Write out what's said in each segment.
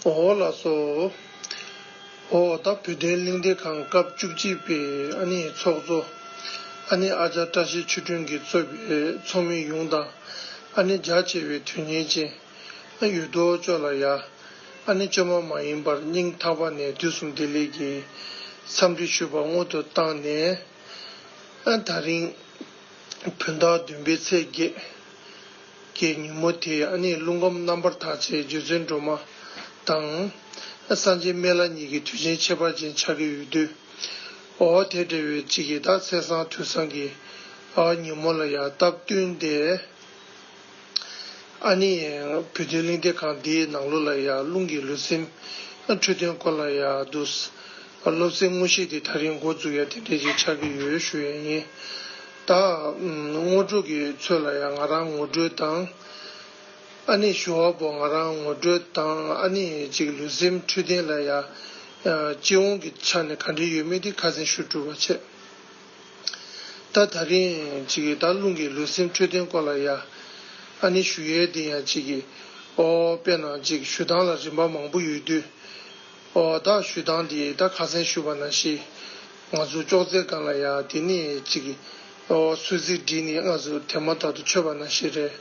འོ་ལ་སོགས། འོ་ད་བུ་སྟོན་གླིང་སྡེ་ཁང་སྐབས་བཅུ་གཅིག་པའི་ཨ་ནི་ཚོགས་གཙོ། ཨ་ནི་ཨ་ཅག་བཀྲ་ཤིས་ཆོས་སྒྲོན་གྱིས་གཙོས་པའི་ཚོགས་མི་ཡོངས་དང། ཨ་ནི་རྒྱ་ཆེ་བའི་དོན་གཉེར་ཅན། ཨ་ཡུ་རྡོ་ཅོ་ལ་ཡ། ཨ་ནི་བཅོས་མ་མ་ཡིན་པར་སྙིང་ཐག་པ་ནས་དུས་གསུམ་བདེ་ལེགས་ཀྱི་འཚམས་འདྲི་ཞུས་པ་སྔོན་དུ་བཏང་ནས། ཨ་ད་རིང་བུན་བདག་བདུན་པའི་ཚེས་བརྒྱད་ཀྱི་ཉིན་མོ་དེ་ཨ་ནི་རླུང་ཁམས་རྣམ་པར་དག་བྱེད་རྗེ་བཙུན་སྒྲོལ་མ་དང། སངས་རྒྱས་སྨན་བླ་གཉིས་ཀྱི་དུས་ཆེན་ཁྱད་པར་ཅན་ཆགས་ཀྱི་ཡོད་དུས། འོ་དེ་འདྲ་བའི་གཅིག་ཡི་དྭགས་ཚེས་བཟང་དུས་བཟང་གི་ཉིན་མོ་ལ་ཡ་སྟབས་བསྟུན་ཏེ། ཨ་ནི། བོད་དོན་གླེང་སྟེགས་ཁང་འདིའི་ནང་ལོ་ལ་ཡང་རླུང་གི་ལུས་སེམས། འཕྲོད་དོན་སྐོར་ལ་ཡང་བསྡུ། སློབ་ཚན་དངོས་གཞི་དེ་ད་རིང་འགོ་འཛུགས་ཡ་དེ་འདྲས་ཅིག་ཆགས་ཀྱི་ཡོད་ཞུ་ཡས་ཡིན། ད། ངོ་སྤྲོད་ཀྱི་ཚོད་ལ་ཡང་ང་རང་ངོ་སྤྲོད་དང། ཨ་ནི་ཞུ་བ་པོ་ང་རང་ངོ་སྤྲོད་དང་ཨ་ནི་ཅིག་ལུས་སེམས་འཕྲོད་བསྟེན་ལ་ཡང། སྤྱི་ཡོངས་ཀྱི་ཆ་ནས་ག་འདྲས་ཡོད་མེད་དེ་ཁ་གསལ་ཞུ་སྤྲོད་བ་བྱས། ད་ད་རིང་ཅིག་གིས་ད་རླུང་གིས་ལུས་སེམས་འཕྲོད་བསྟེན་སྐོར་ལ་ཡ་ཨ་ནི་ཞུ་ཡས་འདི་ཡང་ཅིག་གིས་ཨོ་དཔེ་ན་ཅིག་ཞུ་སྟངས་ལ་རིན་པ་མང་པོ་ཡོད་དུས་ཨོ་ད་ཞུ་སྟངས་འདི་ད་ཁ་སེང་ཞུ་བ་ན་ཤེས་ང་ཚོ་ཅོག་ཙེ་སྒང་ལ་ཡ་དེ་ནི་ཅིག་གིས་ཨོ་སུད་གཟིག་འདི་ནི་སྔ་སུད་དེ་མ་ཐག་ཏུ་ཆོད་པ་ན་ཤེས་རེད་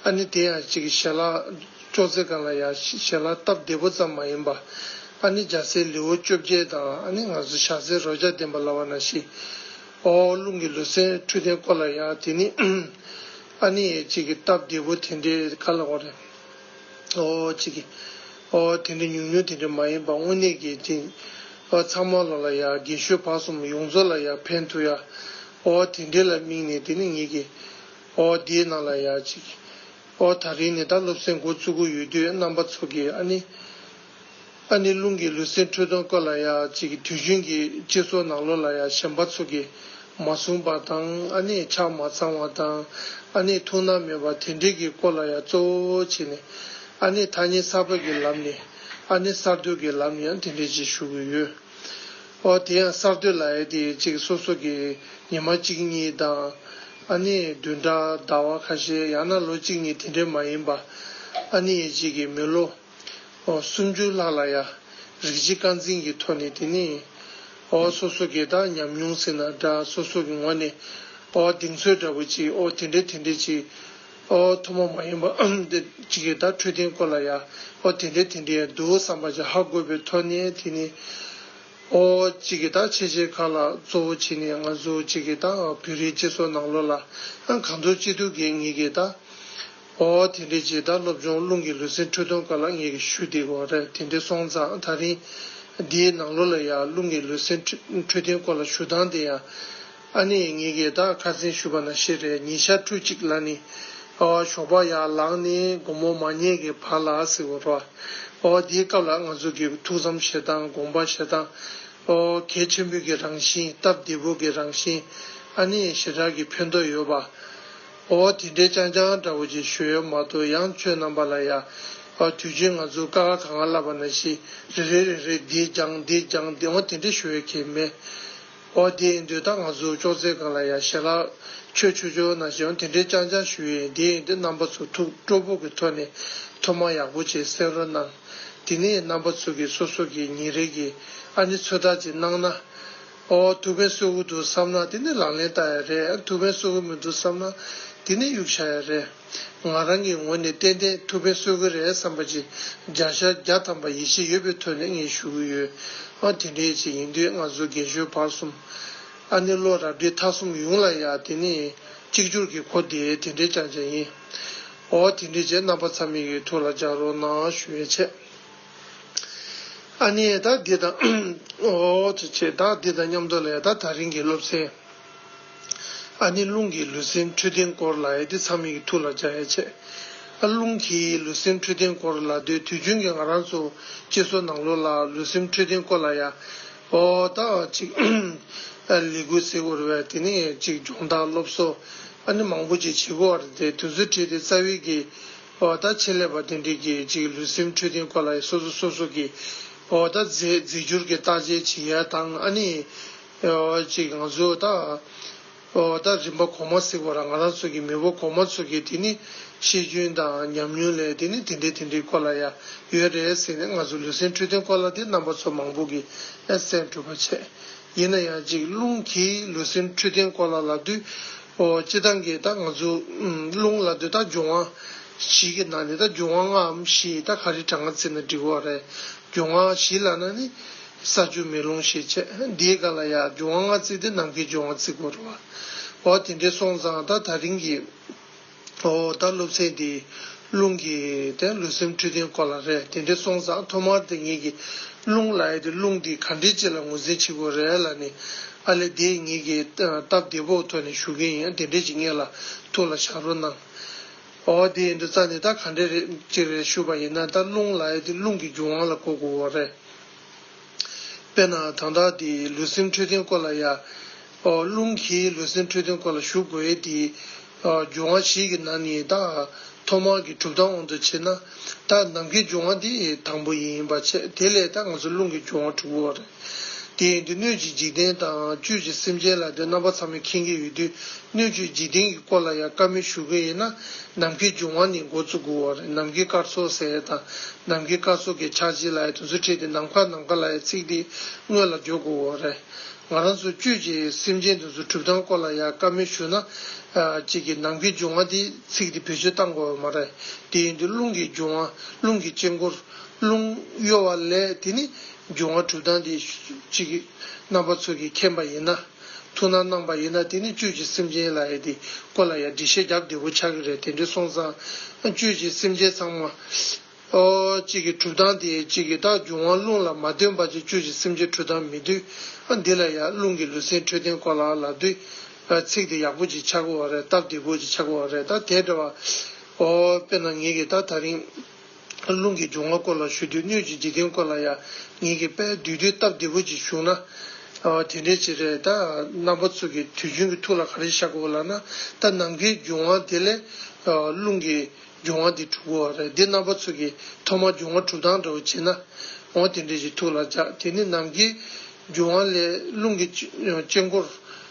ཨ་ནི་དེ་ཡང་ཅིག་གིས་ཞལ་ལག་ཅོག་ཙེ་གང་ལ་ཡང་ཞལ་ལག་སྟབས་བདེ་པོ་ཙམ་མ་ཡིན་པ། ཨ་ནི་འཇའ་ཟེར་ལེའུ་བཅོ་བརྒྱད་དང་ཨ་ནི་ང་ཚོ་ཞྭ་སེར་རོ་བརྒྱ་ལྡན་པ་ལ་བ་ན་ཤིས། ཨོའོ་རླུང་གི་ལུས་སེམས་འཕྲོད་བསྟེན་སྐོར་ལ་ཡང་དེ་ནི་ཨཱ། ཨ་ནི་ཨེ་ཅིག་གི་སྟབས་བདེ་པོ་དེ་འདྲའི་ག་ལ་འོང་རེད། ཨོའོ་ཅིག་གི། ཨོའོ་དེ་འདྲའི་ཉུང་ཉུང་དེ་འདྲའི་མ་ཡིན་པ་དངོས་གནས་ཀྱི་དེ། ཨོའོ་ཚང་མ་ལོ་ལ་ཡ་དགེ་ཤོས་བག་གསུམ་ཡོངས་རྫོགས་ལ་ཡ་ཕན་ཐུག་ཡ། ཨོའོ་དེ་འདྲའི་ལ་དམིགས་ནས་དེ་ནི་ངེད་ཀྱི། ཨོའོ་དེའི་ནང་ལ་ཡ་ཅིག་གི། ཨོ་ད་རིང་ནི་ད་སློབ་གསེང་འགོ་བཙུགས་གི་ཡོད་དུས་རྣམ་པ་ཚོ་གིས་ཨ་ནི། ཨ་ནི་རླུང་གིས་ལུས་སེམས་འཁྲུལ་སྟོང་ཀ་ལ་ཡ་ཅིག་དུས་རྒྱུན་གྱི་སྤྱི་ཚོགས་ནང་ལོ་ལ་ཡ་གཞན་པ་ཚོ་གིས་མ་བཟུང་པ་དང་ཨ་ནི་ཆ་མ་ཚང་བ་དང་ཨ་ནི་ཐུགས་སྣང་མེད་པ་དེ་འདྲའི་གི་སྐོར་ལ་ཡ་གཙོ་བོ་བྱས་ནས་ཨ་ནི་ཐ་སྙད་གསར་པ་གི་ལམ་ནས་ཨ་ནི་གསར་གཏོད་ཀྱི་ལམ་ནས་ཡང་དེ་འདྲས་ཅིག་ཞུ་གི་ཡོད། ཨོ་དེ་ཡང་གསར་གཏོད་ལ་ཡ་དེ་ཅིག་སོ་སོ་གིས་ཉི་མ་གཅིག་གཉིས་དང། ཨ་ནེ་བདུན་ཕྲག་ཟླ་བ་ཁ་ཤས་ཡང་ན་ལོ་གཅིག་གཉིས་དེ་འདྲས་མ་ཡིན་པ། ཨ་ནེ་ཡེ་གཅིག་གིས་མི་ལོ་སུམ་ཅུ་ལྷག་ལ་ཡ་རིགས་གཅིག་རྐང་འཛིན་གྱི་ཐོག་ནས་དེ་ནི་ཨོ་བ་སོ་སོ་གས་དག་ཉམས་མྱོང་ཟེར་ན་འདྲ་སོ་སོ་གི་ངོ་ནས་ཨོ་བ་གདེང་ཚོད་འདྲ་བོ་ཅིག་ཨོ་དེ་འདྲས་དེ་འདྲས་ཅིག་ཨོ་བ་ཐོག་མ་མ་ཡིན་པ་འདི་གཅིག་གས་དག་འཕྲོད་བསྟེན་སྐོར་ལ་ཡ་ཨོ་དེ་འདྲས་དེ་འདྲས་ཡ་འདུག་བསམ་པ་ཅི་ཧ་དགོས་པའི་ཐོག་ནས་དེ་ནི། ཨོ། ཅི་གི་ཏག་ཆེ་ཆེ་ཁ་ལ་གཙོ་བོ་བྱིན་ནས་ང་ཚོ་ཅི་གི་ཏག་བོད་རིགས་སྤྱི་ཚོགས་ནང་ལོ་ལ་གང་འཚོ་ཅི་ཐུབ་གིས་ངེད་གི་ཏག་ཨོ། དེ་འདྲའི་རྗེས་ཏག་སློབ་སྦྱོང་རླུང་གི་ལུས་སེམས་འཁྲུག་སྡོམ་ཁ་ལ་ངེད་གི་ཞུ་དེ་གོ་རེད་དེ་འདྲའི་སོང་ཙང་ཐག་རིང་དེའི་ནང་ལོ་ལ་ཡང་རླུང་གི་ལུས་སེམས་འཁྲུག་སྡོམ་སྐོར་ལ་ཞུ་སྟངས་དེ་ཡང་ཨ་ནེ་ཡིས་ངེད་ཀྱིས་ད་ཁ་རྩིང་ཞུས་པ་ན་ཤེས་རེད་ཉིན་ཤར་ཁྲུས་གཅིག་ལ་ནི། ཨ་བ་ཞོགས་པ་ཡར་ལངས་ནས་དགོང་མོ་མ་ཉལ་གི་བར་ལ་ཟེར་བ་རོ། ཨོ་དེའི་སྐབས་ལ་ང་ཚོ་གི་ཐུགས་བསམ་བཞེས་སྟངས་དགོངས་པ་བཞེས་སྟངས། ཨོ་གལ་ཆེན་པོའི་གི་རང་བཞིན་སྟབས་བདེ་པོ་གི་རང་བཞིན། ཨ་ནེ་ཡི་ཞེ་དྲག་གི་ཕན་ཐོགས་ཡོད་པ། ཨོ་དེ་འདྲའི་ཅང་ཅང་འདྲ་བོ་ཅིག་ཞུས་ཡོད་མ་གཏོགས་ཡང་ཁྱོད་རྣམ་པ་ལ་ཡ། ཨོ་དུས་ཆེན་ང་ཚོས་ཀ་ཁ་ག་ང་བསླབས་པ་ན་ཤི་རེ་རེ་རེ་རེ་འདི་སྦྱངས་འདི་སྦྱངས་འདི་འོང་དེ་འདྲ་ཞུ་ཡོད་ཁྱེད་མེད། ཨོ་དེའི་མདུན་ད་ང་གཟུགས་ཅོག་ཙེ་ག་ལ་ཡ་ཞེ་ལ། ཁྱོད་ཆོས་ཆོས་ན་ཞེ་འོང་དེ་འདྲའི་སྤྱང་སྤྱང་ཞུ་ཡིན་དེ་ཡིན་དུས་རྣམ་པ་ཚོ་ཐུགས་སྤྲོ་པོ་གི་ཐོག་ནས་ཐུགས་མ་ཡག་པོ་བྱེད་སེམས་རོ་གནང། དེ་ནས་རྣམ་པ་ཚོ་གི་སོ་སོ་གི་ཉིན་རེ་གི་ཨ་ནི་ཚོད་དྲག་ཅིག་གནང་ན། ཨོ་ཐུགས་ཕན་གསོས་ཀུ་འདུག་བསམ་ན་དེ་ནས་ལག་ལེན་བསྟར་ཡ་རེད་ཨ་ནི་ཐུགས་ཕན་གསོས་ཀུ་མི་འདུག་བསམ་ན་དེ་ནས་གཡུག་བྱ་ཡ་རེད། ང་རང་གི་ངོས་ནས་ཏན་ཏན་ཐུགས་ཕན་གསོས་ཀྱི་རེད་བསམ་པ་ཅིག་རྒྱ་ཤར་རྒྱ་ཐམ་པ་ཡིད་ཆེས་ཡོད་པའི་ཐོད་ནས་ངས་ཞུ་གི་ཡོད། ཨོ་དེ་འདྲའི་ཆེད་ཡིན་དུས་ང་ཚོ་རྒན་གཞོན་བར་གསུམ། ཨ་ནེ་བློ་རབ་བྲིས་ཐག་གསུམ་ཡོང་ལ་ཡ་དེ་ནས་གཅིག་གྱུར་གྱི་གོ་བདེ་དེ་འདྲའི་བྱང་བྱང་ཡིན། ཨོ་དེ་འདྲའི་ཆེད་རྣམ་པ་ཚ་མེད་ཀྱི་ཐུགས་ལ་འཇགས་རོགས་གནང་ཞུ་བའི་ཆེད། ཨ་ནེ་ད་འདི་དང། ཨོ་དེ་ཆེད་ད་འདི་དང་མཉམ་འདོགས་ལས་ད་ད་རིང་གི་སློབ་ཚན། ཨ་ནི་རླུང་གིས་ལུས་སེམས་འཕྲོད་བསྟེན་སྐོར་ལ་ཨེ་ཏེ་ཚ་མིག་གི་ཐུགས་ལ་འཇགས་ཡ་ཆེ། ཨ་རླུང་གིས་ལུས་སེམས་འཕྲོད་བསྟེན་སྐོར་ལ་སྡོད་དུས་རྒྱུན་གྱི་ང་རང་ཚོ་སྐྱེས་སོ་ནང་ལོ་ལ་ལུས་སེམས་འཕྲོད་བསྟེན་སྐོར་ལ་ཡ། ཨོ། ད་ཅིག། ལས་འགུལ་ཟེར་དགོས་རེ་བས་དེ་ནས་ཅིག་སྦྱོང་བརྡར་སློབ་གསོ་ཨ་ནི་མང་པོ་ཅིག་བྱེད་དགོས་བར་དེ་དུས་ཚོད་ཁྲིད་དེ་རྩ་བའི་གི། ཨོ། ད་ཆེད་ལས་པ་དེ་འདྲས་ཀྱིས་ཅིག་ལུས་སེམས་འཕྲོད་བསྟེན་སྐོར་ལ་ཡ་སོ་སོ་སོ་སོ་གི། ཨོ། ད་རྫས་རྫས་འགྱུར་གྱི་བརྟག་དཔྱད་བྱེད་ཡ་དང་ཨ་ནི། ཅིག་ང་ཚོས་ད་ལྟ་རིམ་པ་གོང་མ་གཟིགས་པ་ར་ང་རང་ཚོ་གི་མི་བོ་གོང་མ་ཚོ་གི་དེ་ནི་ཤེས་རྒྱུན་དང་ཉམས་མྱོང་ལས་དེ་ནི་དེ་འདྲའི་དེ་འདྲའི་སྐོར་ལ་ཡ་ཡོད་རེད་ཟེར་ནས་ང་ཚོ་ལུས་སེམས་འཕྲོད་བསྟེན་སྐོར་ལ་དེ་རྣམ་པ་ཚོ་མང་པོ་གི་སེམས་འཕྲོད་པ་བྱས། ཡིན་ན་ཡང་ཅིག་རླུང་གིས་ལུས་སེམས་འཕྲོད་བསྟེན་སྐོར་ལ་ལ་དུས་སྤྱི་སྟངས་ཀྱི་ད་ང་ཚོ་རླུང་ལ་དུས་ད་འབྱུང་བ་བཞི་གི་ནང་ནས་ད་འབྱུང་བ་ལྔའམ་བཞི་ད་ག་རེ་དྲ་ང་བརྩིས་ན་འགྲིག་བ་རེད་འབྱུང་བ་བཞི་ལ་ན་ནི། ས་བཅུ་མེ་ལོང་ཞེས་བྱ། འདིའི་སྒ་ལ་ཡང་འབྱུང་བ་ལྔ་བརྩིགས་ཏེ་ནམ་མཁའི་འབྱུང་བ་བརྩིག་གོ། རོ། འོ་དེ་འདྲའི་སོང་ཙང་ད་ད་རིང་གི། འོ་ད་སློབ་ཚན་འདིའི། རླུང་གི། དེ་ལུས་སེམས་འཁྲུལ་རྟེན་སྐོར་ལ་རེད་དེ་འདྲའི་སོང་ཙང་ཐོག་མར་དེ་ངེད་ཀྱི། རླུང་ལ་ཡ་དེ་རླུང་འདི་ག་འདྲའི་ལྕི་ལ་ངོས་འཛིན་བྱེད་དགོས་རེད་ལ་ནི། ཨ་ལེ་དེ་ངེད་ཀྱིས། སྟབས་བདེ་བོ་ཐོག་ནས་ཞུ་གིན་ཡིན་དེ་འདྲས་ཀྱི་ངེད་ལ། ཐུགས་ལ་བཞག་རོགས་གནང། ཨོ་ཨོ་དེ་ཡིན་དུས་རྩ་ནས་ད་ག་འདྲས་རེད་ཅིག་རེད་ཞུས་པ་ཡིན་ན་ད་རླུང་ལ་ཡོད་དུས་རླུང་གི་རྒྱུ་དབང་ལ་གོ་དགོས་བོ་རེད། དཔེར་ན་དང་བདག་དེ་ལུས་སེམས་འཕྲོད་བསྟེན་སྐོར་ལ་ཡ། ཨོ་རླུང་གིས་ལུས་སེམས་འཕྲོད་བསྟེན་སྐོར་ལ་ཞུགས་དགོས་ཡས་དེའི། ཨོ་རྒྱུ་དབང་ཞིག་གི་ནང་ནས་ད་ཐོག་མར་གི་གྲུབ་སྟངས་དབང་དུ་བྱས་ན། ད་ནམ་མཁའི་རྒྱུ་དབང་དེ་དང་པོ་ཡིན་པ་ཆད་དེ་ལས་ད་ང་ཚོ་རླུང་གི་རྒྱུ་དབང་དྲུག་པོ་རེད། དེ་ཡིན་དུས་སྣོད་ཀྱི་འཇིག་རྟེན་དང་བཅུད་ཀྱི་སེམས་ཅན་ལ་དོན་རྣམ་པ་ཚང་མ་མཁྱེན་གྱི་ཡོད་དུས་སྣོད་བཅུད་འཇིག་རྟེན་གྱི་སྐོར་ལ་ཡང་བཀའ་མོལ་ཞུ་གི་ཡིན་ན་ནམ་མཁའི་རྒྱུན་དབང་ནི་འགོ་བཙུགས་དགོས་བ་རེད་ནམ་མཁའི་སྐར་ཚོགས་ཟེར་ཡས་དང་ནམ་མཁའི་སྐར་ཚོགས་ཀྱི་ཆགས་འཇིག་ལ་ཡས་དུ་ཚོད་ཁྲིད་དེ་ནམ་མཁའ་ནམ་མཁའ་ལ་ཡས་ཚིག་དེ་དངོས་ལ་བརྗོད་དགོས་བ་རེད། ང་རང་ཚོ་བཅུད་ཀྱི་སེམས་ཅན་དེ་ཚོ་གྲུབ་སྟངས་སྐོར་ལ་ཡང་བཀའ་མོལ་ཞུ་ན། གཅིག་གིས་ནམ་མཁའི་རྒྱུན་དབང་དེ་ཚིག་དེ་བེད་སྤྱོད་བཏང་དགོས་བ་མ་རེད་དེ་ཡིན་དུས་རླུང་གི་རྒྱུན་དབང་རླུང་གི་དཔྱད་འཁོར་རླུང་གཡོ་བ་ལས་དེ་ནི། འབྱུང་བ་དྲུག་དང་དེ་གཅིག། རྣམ་པ་ཚོགས་ཀྱིས་མཁྱེན་པ་ཡིན་ན། ཐུགས་སྣང་གནང་པ་ཡིན་ན་དེ་ནི་བཅུད་ཀྱི་སེམས་ཅན་ལ་ཡ་དེ་ཀོ་ལ་ཡ་འདྲི་ཤེས་རྒྱབ་བདེ་བོ་ཆགས་ཀྱི་རེད་དེ་འདྲི་སོང་ཙང། བཅུད་ཀྱི་སེམས་ཅན་ཚང་མ། གཅིག་གི་གྲུབ་སྟངས་དེ་གཅིག་གི་རྟགས་འབྱུང་བ་རླུང་ལ་མ་ལྟོས་པ་ཅིག་བཅུད་ཀྱི་སེམས་ཅན་གྲུབ་སྟངས་མི་འདུས། འདི་ལ་ཡ་རླུང་གི་ལུས་སེམས་འཕྲོད་བསྟེན་ཀོ་ལ་ལ་འདུས། ཚིག་དེ་ཡག་པོ་ཅིག་ཆགས་དགོས་བ་རེད་སྟབས་བདེ་བོ་ཅིག་ཆགས་དགོས་བ་རེད་ད་དེ་འདྲ་བ། དཔེར་ན་ངེད་ཀྱིས་ད་ད་རིང། རླུང་གི་འབྱུང་བ་སྐོར་ལ་ཞུ་དུས་སྣོད་ཀྱི་འཇིག་རྟེན་སྐོར་ལ་ཡང་ཉིད་ཀྱི་དཔལ་བསྡུས་དུས་སྟབས་བདེ་པོ་ཅིག་བྱུང་ན། དེ་འདྲའི་བྱེད་འབྲས་ད་རྣམ་པ་ཚུགས་ཀྱི་དུས་རྒྱུན་གྱི་ཐུགས་ལ་ག་རེ་བཞག་གོ་ལགས་ན་ད་ནམ་མཁའི་འབྱུང་བ་དེ་ལས། རླུང་གི་འབྱུང་བ་འདི་དྲུག་གོ། འདི་རྣམ་པ་ཚུགས་ཀྱི་ཐོག་མར་འབྱུང་བ་དྲུག་དང་འདྲ་བོ་བྱེད་ན། འོ་དེ་འདྲའི་ཞིག་ཐུགས་ལ་འཇགས་དེ་ནི་ནམ་མཁའི་འབྱུང་བ་ལས་རླུང་གི་དཀྱིལ་འཁོར།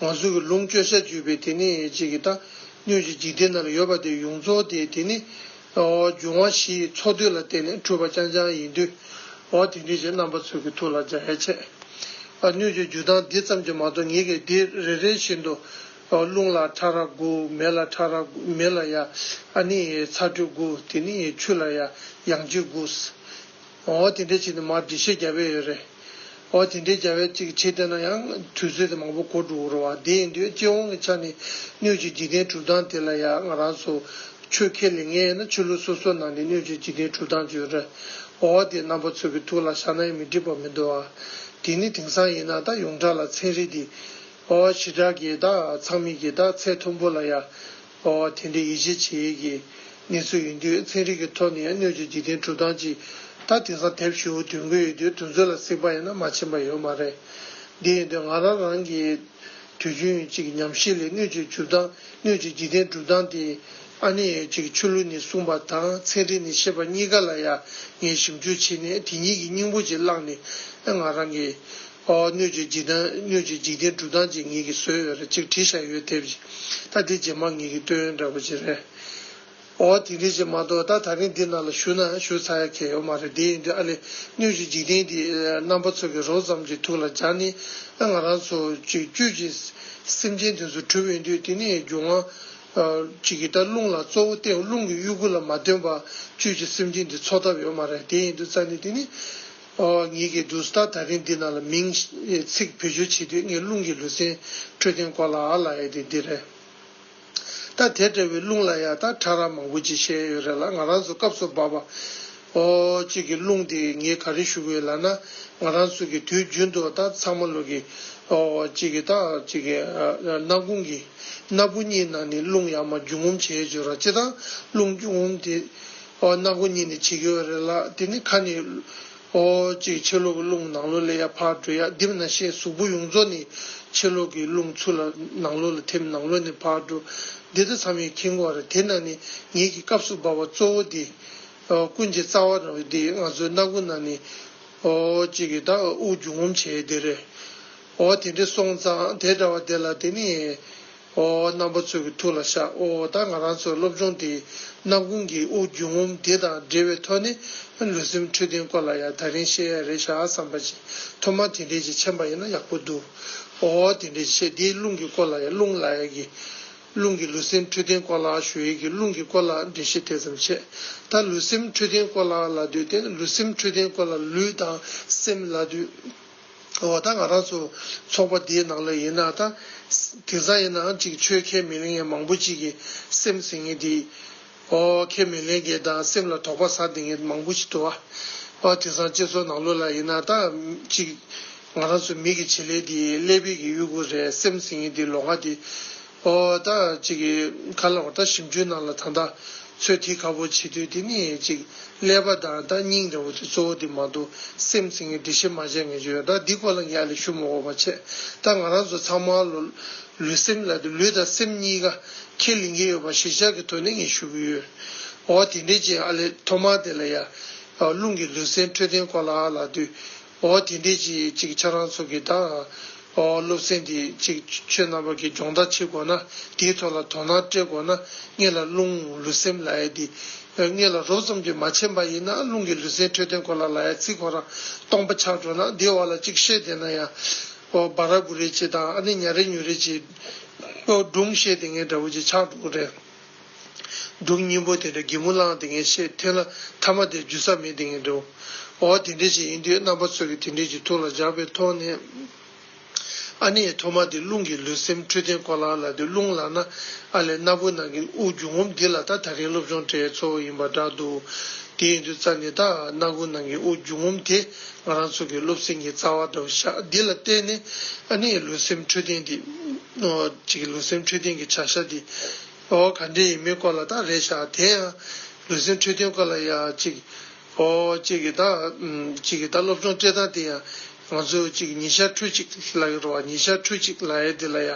ང་ཚོས་ཀྱི་ལུང་སྤྱོད་བཤད་བརྗོད་པའི་དེ་ནི་ཅིག་གི་དང་སྣོད་ཀྱི་འཇིག་རྟེན་ན་ཡོད་པ་དེ་ཡོངས་རྫོགས་དེ་དེ་ནི། འབྱུང་བ་བཞི་ཡི་ཚོགས་བསྡུས་ལ་བརྟེན་ནས་འཁྲུལ་པ་རྐྱང་རྐྱང་ཡིན་དུས། འོ་དེ་འདྲའི་ཆེས་རྣམ་པ་ཚོས་ཀྱི་ཐུགས་ལ་འཇའ་ཡལ་ཆེ། སྣོད་ཀྱི་རྒྱུ་སྟངས་འདི་ཙམ་གྱིས་མ་གཏོགས་ངེད་ཀྱིས་འདི་རེ་རེ་བཞིན་དུ། རླུང་ལ་ཕྲ་རགས་དགུ་མེ་ལ་ཕྲ་རགས་དགུ་མེ་ལ་ཡ། ནི། ཚ་དྲོད་དགུ་དེ་ནི་ཆུ་ལ་ཡ། ཡང་ལྕི་དགུ། འོ་དེ་འདྲའི་ཆེད་དུ་མར་འགྲེལ་བཤད་རྒྱག་འབད་ཡོད་རེད། འོ་དེ་འདྲའི་རྒྱ་བལ་ཅིག་གི་ཆེད་དུ་ན་ཡང་དུས་ཚོད་དེ་མང་པོ་འགོར་འགྲོ་རུ་བ་དེ་ཡིན་དུས་སྤྱི་དབང་གི་ཆ་ནས་སྣོད་བཅུད་འཇིག་རྟེན་གྲུབ་སྟངས་དེ་ལ་ཡང་ང་རང་ཚོ་ཆོས་ཁས་ལེན་ངེས་ཡིན་ན་ཆོས་ལུགས་སོ་སོ་ནང་ནས་སྣོད་བཅུད་འཇིག་རྟེན་གྲུབ་སྟངས་བརྗོད་རེད། འོ་དེ་རྣམ་པ་ཚོ་གི་ཐུགས་ལ་བཞག་ན་ཡང་མི་འགྲིག་པ་མི་འདུག་ཨ། དེ་ནི་དེང་སང་ཡིན་ན་ད་ཡོངས་གྲགས་ལ་ཚན་རིག་འདི་འོ་ཞི་དྲག་གི་ད་ཚང་མིག་གི་ད་ཚད་མཐོན་པོ་ལ་ཡ། སྨྲ་བ་དེ་འདྲའི་ཡིད་ཆེས་བྱེད་ཡུལ་གྱི་གནས་ཚུལ་ཡིན་དུས་ཚན་རིག་གི་ཐོག་ནས་སྣོད་བཅུད་འཇིག་རྟེན་གྲུབ་སྟངས་ཀྱི་ཐ་དེང་སང་དེབ་ཧྲིལ་བོ་དུས་འགོ་ཡོད་དུས་དུས་ཚོད་ལ་གཟིགས་པ་ཡིན་ན་མ་ཕྱིན་པ་ཡོད་མ་རེད། དེ་ཡིན་དུས་ང་རང་རང་གི་དུས་རྒྱུན་གཅིག་ཉམས་བཞེས་ལས་སྣོད་བཅུད་འཇུག་སྟངས་སྣོད་བཅུད་འཇིག་རྟེན་གྲུབ་སྟངས་དེ་ཨ་ནེ་ཡོད་ཅིག་ཆོས་ལུགས་ནས་གསུངས་པ་དང་ཚན་རིག་ནས་བཤད་པ་གཉིས་ཀ་ལ་ཡང་ངས་ཞིབ་འཇུག་བྱས་ནས་དེ་གཉིས་ཀྱི་སྙིང་པོ་ཅིག་བླངས་ནས་ང་རང་གི་ཨོ་སྣོད་ཀྱི་འཇིག་རྟེན་སྣོད་ཀྱི་འཇིག་རྟེན་དྲུག་དང་གཅིག་ངེད་ཀྱིས་བཟོས་ཡོད་རེད་ཅིག་བྲིས་བཞག་ཡོད་དེབ་ཀྱིས་ད་དེ་རྗེས་མ་ངེད་ཀྱིས་བཏོན་ཡོད་འདྲ་བོ་ཅིག་རེད། ཨོ་དེ་འདྲའི་ཅིག་མ་གཏོགས་ད་ད་རིང་འདི་ནང་ལ་ཞུ་ན་ཞུ་ཚར་ཡ་ཁྱེད་ཡོད་མ་རེད་དེ་ཡིན་དུས་ཨ་ལེ་སྣོད་ཀྱི་འཇིག་རྟེན་འདི་རྣམ་པ་ཚོ་གི་རོགས་ཙམ་གྱི་ཐུགས་ལ་སྦྱར་ནས་ཨ་ང་རང་ཚོ་ཅིག་བསྐྱོད་ཅིག་སེམས་ཅན་དེ་ཚོ་གྲུབ་ཡོད་དུས་དེ་ནས་རྒྱུ་ང་ཅིག་གིས་ད་རླུང་ལ་གཙོ་བོ་བརྟེན་རླུང་གི་དབྱུ་གུ་ལ་མ་བརྟེན་པར་བསྐྱོད་ཅིག་སེམས་ཅན་འདི་འཚོ་ཐབས་ཡོད་མ་རེད་དེ་ཡིན་དུས་རྩ་ནས་དེ་ནི་ངེད་ཀྱིས་བསྡུར་ས་ད་རིང་འདི་རྣམས་ལ་མིང། ཚིག་བེད་སྤྱོད་བྱེད་དུས་ངས་རླུང་གི་ལུས་སེམས་འཕྲོད་བསྟེན་སྐོར་ལ་ཨ་ལ་ཨེ་དེ་འདི་རེད། ད་དེ་འདྲ་བའི་རླུང་ལ་ཡག་ཐག་ཕྲ་རགས་མང་པོ་ཅིག་བཤད་ཡོད་རེད་ལ་ང་རང་ཚོ་སྐབས་སུ་བབས་པ། གཅིག་གི་རླུང་དེ་ངས་ག་རེ་ཞུ་གི་ཡོད་ལགས་ན། ང་རང་ཚོ་གི་དུས་རྒྱུན་དུ་ད་ཚང་མ་ལུས་ཀྱི། གཅིག་གི་ད་གཅིག་གི། སྣ་ཁུང་གི། སྣ་བུག་གཉིས་ནང་ནས་རླུང་ཡག་མ་རྒྱུ་ངོམ་བྱེད་ཡོད་ཅེས་རོ་གཅིག་དང་རླུང་རྒྱུ་ངོམ་དེ། ཨོ། སྣ་སྒོ་གཉིས་ནས་བྱེད་ཀྱི་ཡོད་རེད་ལགས་དེ་ནི་ཁ་ནས། ཨོ། ཅེས་ཕྱི་ལོག་གི་རླུང་ནང་ལོག་ལས་ཡར་འཕར་འགྲོ་ཡ་རྡིབ་ན་ཤའི་གཟུགས་པོ་ཡོངས་རྫོགས་ནི་ཕྱི་ལོག་གི་རླུང་ཚུར་ལ་ནང་ལོག་ལ་ཐེབས་ནང་ལོག་ནས་འཕར་འགྲོ། འདི་ལྟར་མཚམས་ཡོད་ཁྱིམ་བར་དེ་ན་ནི་ངེད་ཀྱི་སྐབས་སུ་འབབ་བ་གཙོ་བོ་འདི། ཨོ། ཀུན་གྱི་རྩ་བ་རང་བའི་འདི་ང་ཚོའི་སྣ་སྒོ་ན་ནི། ཨོ། ཅེས་ཀྱི་ད་ཨུ་རྒྱུ་ངོམ་བྱེད་འདི་རེད། ཨོ། དེ་འདྲའི་སོང་ཙང་དེ་འདྲ་བ་དེ་ལ་དེ་ནི། ཨོ་ཨོ་རྣམ་པ་ཚོ་གི་ཐུགས་ལ་བཤགས་ཨོ་ཨོ་ད་ང་རང་ཚོ་སློབ་སྦྱོང་དེའི་རྣམ་ཀུན་གྱི་དབུགས་རྒྱུན་ངོམ་དེ་དང་འབྲེལ་བའི་ཐོག་ནས་ལུས་སེམས་འཕྲོད་བསྟེན་སྐོར་ལ་ཡང་ད་རིང་བཤད་ཡ་རེད་ཤག་བསམ་པ་ཅི་ཐོབ་མ་དེ་འདྲས་ཅིག་མཆན་པ་ཡིན་ན་ཡག་པོ་འདུག་ཨོ་ཨོ་དེ་འདྲས་ཅིག་བཤད་དེའི་རླུང་གི་སྐོར་ལ་ཡང་རླུང་ལ་ཡག་གི་རླུང་གི་ལུས་སེམས་འཕྲོད་བསྟེན་སྐོར་ལ་ཞུ་ཡག་གི་རླུང་གི་སྐོར་ལ་འགྲེལ་བཤད་དེ་ཙམ་བྱས་ད་ལུས་སེམས་འཕྲོད་བསྟེན་སྐོར་ལ་ལ་དུས་དེ་ལུས་སེམས་འཕྲོད་བསྟེན་སྐོར་ལ་ལུས་དང་སེམས་ལ་དུས། འོ་ད་ང་རང་ཚོ་ཚོགས་པ་འདིའི་ནང་ལ་ཡིན་ན་ད། དེང་སང་ཡིན་ནའང་ཅིག་ཆོས་ཁས་མི་ལེན་མཁན་མང་པོ་ཅིག་གི་སེམས་ཟིན་ངེས་དེ། ཨོ། ཁས་མི་ལེན་མཁན་དང་སེམས་ལ་དོགས་པ་ཟ་བདེ་མཁན་མང་པོ་ཅིག་འདུག་ཨ། ཨོ་དེང་སང་སྤྱི་ཚོགས་ནང་ལོགས་ལ་ཡིན་ན་ད། ཅིག། ང་རང་ཚོ་མི་གི་བྱེད་ལས་དེ་ཀླད་པེད་ཀྱི་དབྱུ་གུ་རེད་སེམས་ཟིན་ངེས་དེ་ལོ་ང་དེ། ཨོ་ད་ཅིག་གི་ཁ་ལོག་ད་ཞིམ་ཆུའི་ནང་ལ་ད་ད་ཚོད་ཐིག་ཁ་བོ་བྱེད་དུས་དེ་ནི་ཅིག་ཀླད་པ་ད་ད་སྙིང་རེ་བོ་དེ་གཙོ་བོ་དེ་མ་གཏོགས་སེམས་ཚིག་ངས་འདྲི་ཤེས་མ་བྱས་ངེས་ཅི་ཡོད་ད་འདི་ཁོ་ལ་ངས་ལས་ཞུ་མ་གོ་བ་ཆད་ད་ང་རང་ཚོ་ཚང་མ་ལོ་ལུས་སེམས་ལ་དེ་ལུས་དང་སེམས་གཉིས་ཀ་ཁས་ལེན་གྱི་ཡོད་པ་གཞིས་ཆགས་ཀྱི་ཐོག་ནས་ངས་ཞུ་གི་ཡོད་ཨོ་དེ་འདྲའི་རྗེས་ཨ་ལས་ཐོག་མར་དེ་ལ་ཡར་ཀླུང་གི་ལུས་སེམས་འཕྲོད་བསྟེན་སྐོར་ལ་ལ་དུས། འོ་དེ་འདྲས་ཀྱིས་ཅིག་ཆར་རང་ཚུགས་ཀྱིས་དང། འོ་སློབ་ཚན་འདིས་ཅིག་ཆོས་རྣམ་པ་གྱི་སྦྱོང་བརྡར་བྱེད་དགོས་ན་དེའི་ཐོག་ལ་དོ་སྣང་སྤྲད་དགོས་ན་སྔས་ལ་རླུང་ལུས་སེམས་ལ་ཡས་འདི། སྔས་ལ་རོབ་ཙམ་གྱིས་མ་བྱས་པ་ཡིན་ན་རླུང་གི་ལུས་སེམས་འཕྲོད་བསྟེན་གོ་ལ་ལ་ཡས་ཚིག་གོ་རང་སྟོང་པ་ཆགས་འགྲོ་ན་དེའི་འོག་ལ་ཅིག་བཤད་བསྡད་ན་ཡང། འོ་སྦ་ར་འབུ་རེ་བྱེད་དང་ཨ་ནི་ཉྭ་རེ་ཉུལ་རེ་བྱེད། འོ་སྒྲུང་བཤད་དེ་ངས་འདྲ་བོ་ཅིག་ཆགས་འགྲོ་གི་རེད། སྒྲུབ་གཉིས་པོ་དེ་འདྲ་སྒེག་མོ་བླངས་དེ་ངས་ཤེས་འཐེན་ལ་ཐ་མ་དེར་འཇུ་ས་མེད་དེ་ངས་འདྲེའོ། འོ་དེ་འདྲས་ཞིག་ཡིན་དུས་རྣམ་པ་ཚོས་ཀྱི་དེ་འདྲས་ཀྱི་ཐུགས་ལ་འཇགས་པའི་ཐོག་ནས། ཨ་ནེ་ཡི་ཐོག་མ་དེ་རླུང་གི་ལུས་སེམས་འཕྲོད་བསྟེན་ཁོ་ལགས་ལ་དེ་རླུང་ལགས་ན། ཨ་ལས་སྣ་བུག་ནང་གི་དབུགས་རྒྱུ་ངོམ་འདི་ལ་ད་ད་རིང་སློབ་སྦྱོང་གྲྭའི་གཙོ་བོ་ཡིན་པ་འདྲ་འདུག་དེ་ཡིན་དུས་རྩ་ནས་ད་སྣ་བུག་ནང་གི་དབུགས་རྒྱུ་ངོམ་དེ་ང་རང་ཚོ་གི་སློབ་ཚན་གྱི་རྩ་བ་འདྲ་བོ་ཤག་འདི་ལ་བརྟེན་ནས་ཨ་ནེ་ཡི་ལུས་སེམས་འཕྲོད་བསྟེན་དེ་ཅིག་གི་ལུས་སེམས་འཕྲོད་བསྟེན་གྱི་བྱ་བཞག་འདི་འོ་ག་འདྲེ་ཡིན་མིན་སྐོར་ལ་དག་རེ་བཞག་དེ་ཡང་ལུས་སེམས་འཕྲོད་བསྟེན་སྐོར་ལ་ཡ་ཅིག་འོ་ཅིག་གི་དག་ཅིག་གི་དག་སློབ་སྦྱོང་སྤྲད་སྟངས་དེ་ཡང་ང་ཚོས་ཅིག་ཉི་ཤར་འཕྲུལ་ཅིག་ལ་ཡོད་བ་ཉི་ཤར་འཕྲུལ་ཅིག་ལ་ཡ་དེ་ལ་ཡ་